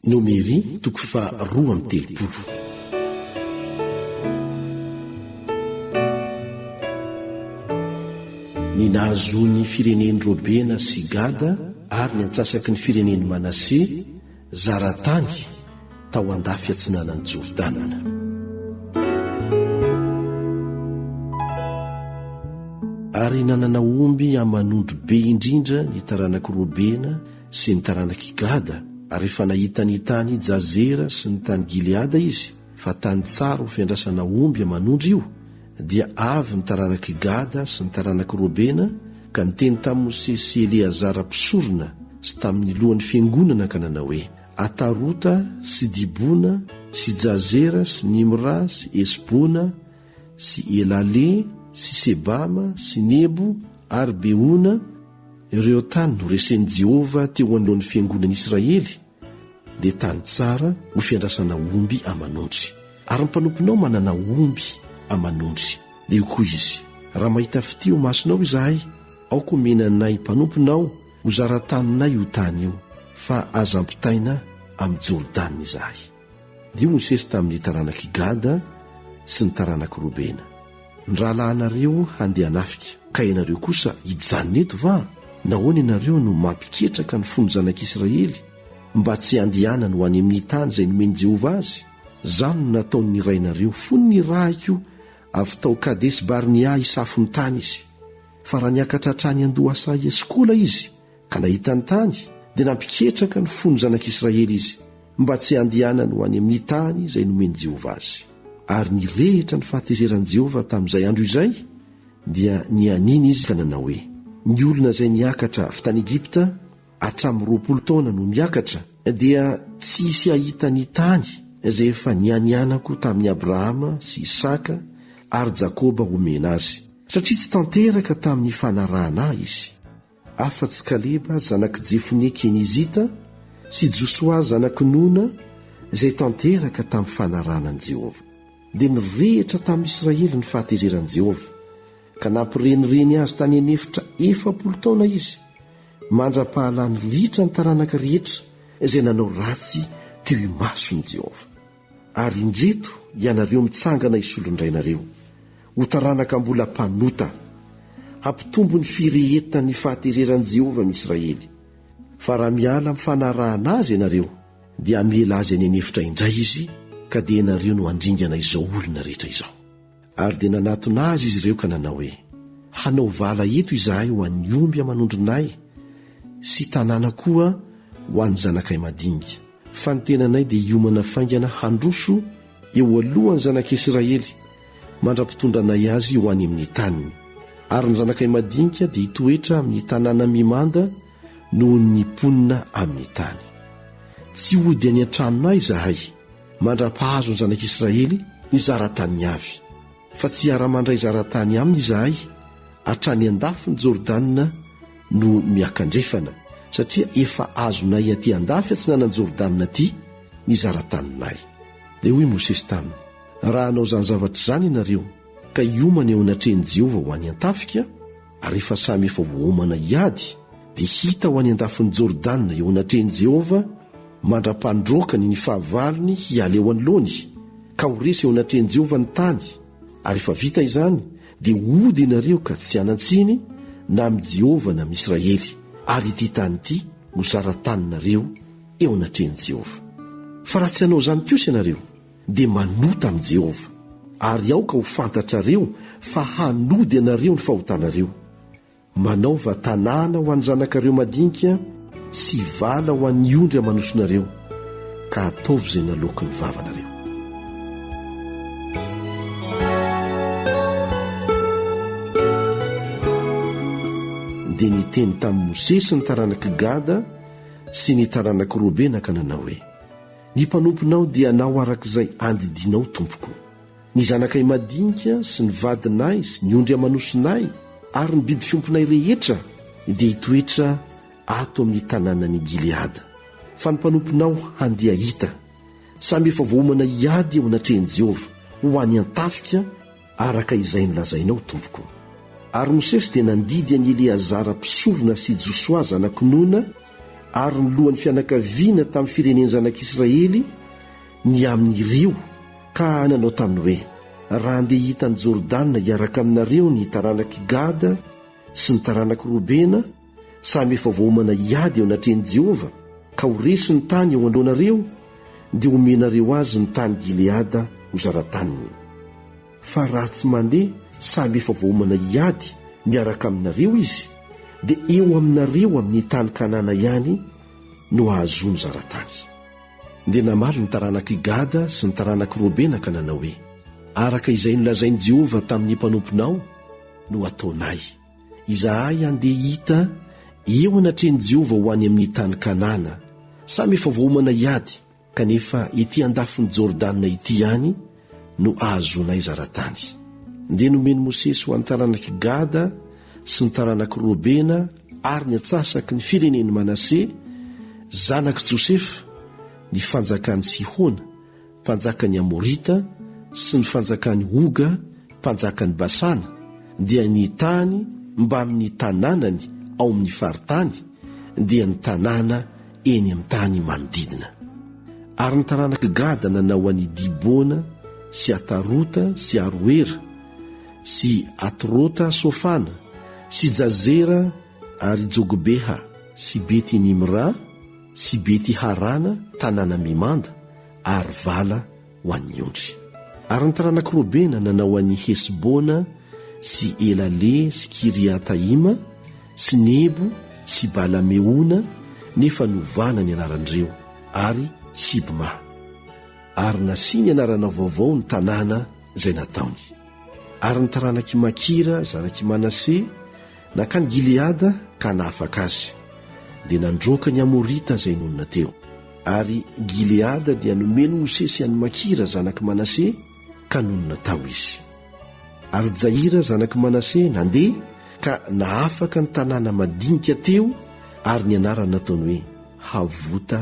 Nomery toko faha roa amby telopolo. Ny nahazoan'ny firenen'i Robena sy Gada ary ny antsasaky ny firenen'i Manase zara tany tao an-dafy atsinanan'i Jordana. Ary nanana omby aman'ondry be indrindra ny taranak'i Robena sy ny taranak'i Gada, ary rehefa nahita ny tany Jazera sy ny tany Gileada izy, fa tany tsara ho fiandrasana omby aman'ondry io, dia avy ny taranak'i Gada sy ny taranak'i Robena ka niteny tamin'i Mosesy sy Eleazara mpisorona sy tamin'ny lohan'ny fiangonana ka nanao hoe, Atarota sy Dibona sy Jazera sy Nimra sy Hesbona sy Elale sy Sebama sy Nebo ary Beona, ireo tany noresen'i Jehovah teo anoloan'ny fiangonan'Israely, dia tany tsara ho fiandrasana omby aman'ondry. Ary ny mpanomponao manana omby aman'ondry. Dia hoy koa izy, Raha mahita fitia eo masonao izahay, aoka omena anay mpanomponao ho zara-taninay io tany io, fa aza ampitaina amin'i Jordana izahay. Dia Mosesy tamin'ny taranak'i Gada sy ny taranak'i Robena. Ny rahalahinareo handeha hanafika. Ka ianareo kosa hijanona eto va? Nahoana ianareo no mampiketraka ny fon'ny zanak'Israely mba tsy handehanany ho any amin'ny tany izay nomen'i Jehovah azy? Izany no nataon'ny rainareo fony nirahiko avy tao Kadesi-Barnea hisafo ny tany izy. Fa raha niakatra hatrany an-doha saha i Eskola izy, Ka nahita ny tany, dia nampiketraka ny fon'ny zanak'Israely izy, mba tsy handehanany ho any amin'ny tany izay nomen'i Jehovah azy. Ary nirehitra ny fahatezeran'i Jehovah tamin'izay andro izay, dia nianiana izy ka nanao hoe, Ny olona izay niakatra avy tany Egypta hatramin'ny roapolo taona no miakatra, dia tsy hisy hahita ny tany izay efa nianianako tamin'i Abrahama sy Isaka ary Jakoba homena azy, satria tsy tanteraka tamin'ny fanarahana ahy izy. afa-tsy Kaleba zanak'i Jefonia Kenizita sy Josoa zanak'i Nona izay tanteraka tamin'ny fanarahana an'i Jehovah. Dia nirehitra tamin'i Israely ny fahatezeran'i Jehovah, ka nampirenireny azy tany an'efitra efapolo taona izy, mandra-pahalany ritra ny taranaka rehetra izay nanao ratsy teo imason'i Jehovah. Ary indreto ianareo mitsangana hisolo indray nareo, ho taranaka mbola mpanota. Hampitombo ny firehetan'ny fahatereran'i Jehovah ny Israely. Fa raha miala amin'ny fanarahana azy ianareo, dia hamela azy any an'efitra indray izy, ka dia ianareo no handringana izao olona rehetra izao. Ary dia nanatona azy izy ireo ka nanao hoe, Hanao vala eto izahay ho an'ny omby aman'ondrinay sy tanàna koa ho an'ny zanakay madinika, fa ny tenanay dia hiomana faingana handroso eo alohan'ny zanak'Israely mandra-pitondra anay azy ho any amin'ny taniny, ary ny zanakay madinika dia hitoetra amin'ny tanàna mimanda noho ny mponina amin'ny tany. Tsy hody any an-tranonay izahay. Mandra-pahazo ny zanak'Israely ny zara-taniny avy, fa tsy hiara-mandray zara-tany aminy izahay hatrany an-dafin'i Jordana no miakandrefana, satria efa azonay aty an-dafy atsinanan'i Jordana aty ny zara-taninay. Dia hoy Mosesy taminy, Raha hanao izany zavatra izany ianareo, ka hiomana eo anatrehan'i Jehovah ho any an-tafika, Ary rehefa samy efa voaomana hiady, dia hita ho any an-dafin'i Jordana eo anatrehan'i Jehovah mandra-pandroakany ny fahavalony hiala eo anoloany, ka ho resy eo anatrehan'i Jehovah ny tany, ary rehefa vita izany, dia hody ianareo ka tsy hanan-tsiny na amin'i Jehovah na amin'Israely, ary ity tany ity ho zara-taninareo eo anatrehan'i Jehovah. Fa raha tsy hanao izany kosa ianareo, dia manota amin'i Jehovah, ary aoka ho fantatrareo fa hanody anareo ny fahotanareo. Manaova tanàna ho an'ny zanakareo madinika sy vala ho an'ny ondry aman'osonareo, ka ataovy izay naloaky ny vavanareo. dia niteny tamin'i Mosesy ny taranak'i Gada sy ny taranak'i Robena ka nanao hoe Ny mpanomponao dia anao araka izay andidianao, tompoko. Ny zanakay madinika sy ny vadinay sy ny ondry aman'osinay ary ny biby fiompinay rehetra dia hitoetra ato amin'ny tanànan'i Gileada. Fa ny mpanomponao handeha hita. Samy efa voaomana hiady eo anatrehan'i Jehovah, ho any an-tafika, Araka izay nolazainao, tompoko. Ary Mosesy dia nandidy an'i Eleazara mpisorona sy Josoa zanak'i Nona ary ny lohan'ny fianakaviana tamin'ny firenen-janak'Israely ny amin'ny rio, ka nanao taminy hoe, Raha handeha hiita an'i Jordana hiaraka aminareo ny taranak'i Gada sy ny taranak'i Robena, Samy efa voaomana hiady eo anatrehan'i Jehovah, ka ho resy ny tany eo anoloanareo, dia homenareo azy ny tany Gileada ho zara-taniny. Fa raha tsy mandeha samy efa voaomana hiady miaraka aminareo izy, dia eo aminareo amin'ny tany Kanana ihany no hahazoany zara-tany. Dia namaly ny taranak'i Gada sy ny taranak'i Robena ka nanao hoe, Araka izay nolazain'i Jehovah tamin'ny mpanomponao no ataonay. Izahay handeha hita eo anatrehan'i Jehovah ho any amin'ny tany Kanana. Samy efa voaomana hiady, kanefa etỳ andafin'i Jordana etỳ ihany no ahazoanay zara-tany. Dia nomen'i Mosesy ho an'ny taranak'i Gada sy ny taranak'i Robena ary ny antsasaky ny firenen'i Manase, zanak'i Josefa, ny fanjakan'i Sihona, mpanjakan' ny Amorita, sy ny fanjakan' i Oga, mpanjakan' i Basana, dia nitany mbamin' ny tanànany ao amin' ny faritany, dia ny tanàna eny amin' ny tany manodidina. Ary ny taranak' i Gada nanao an' i Dibona sy Atarota sy Aroera sy Atrota Sofana sy Jazera ary Jogobeha sy Bety Nimra sy Beti-harana tanànam-bimanda ary vala ho an'ny ondry. Ary ny taranak'i Robena nanao an'i Hesbona sy Elale sy Kiriataima sy Nebo sy Bala-meona nefa novana ny anaran'ireo, ary Sibma. Ary nasiany anarana vaovao ny tanàna izay nataony. Ary ny taranak'i Makira zanak'i Manase, Nankany Gileada ka nahafaka azy, dia nandroaka ny Amorita izay nonina teo. Ary Gileada dia nomen'i Mosesy an'i Makira zanak'i Manase, ka nonina tao izy. Ary Jaira zanak'i Manase nandeha ka nahafaka ny tanàna madinika teo, ary ny anarany nataony hoe Havota.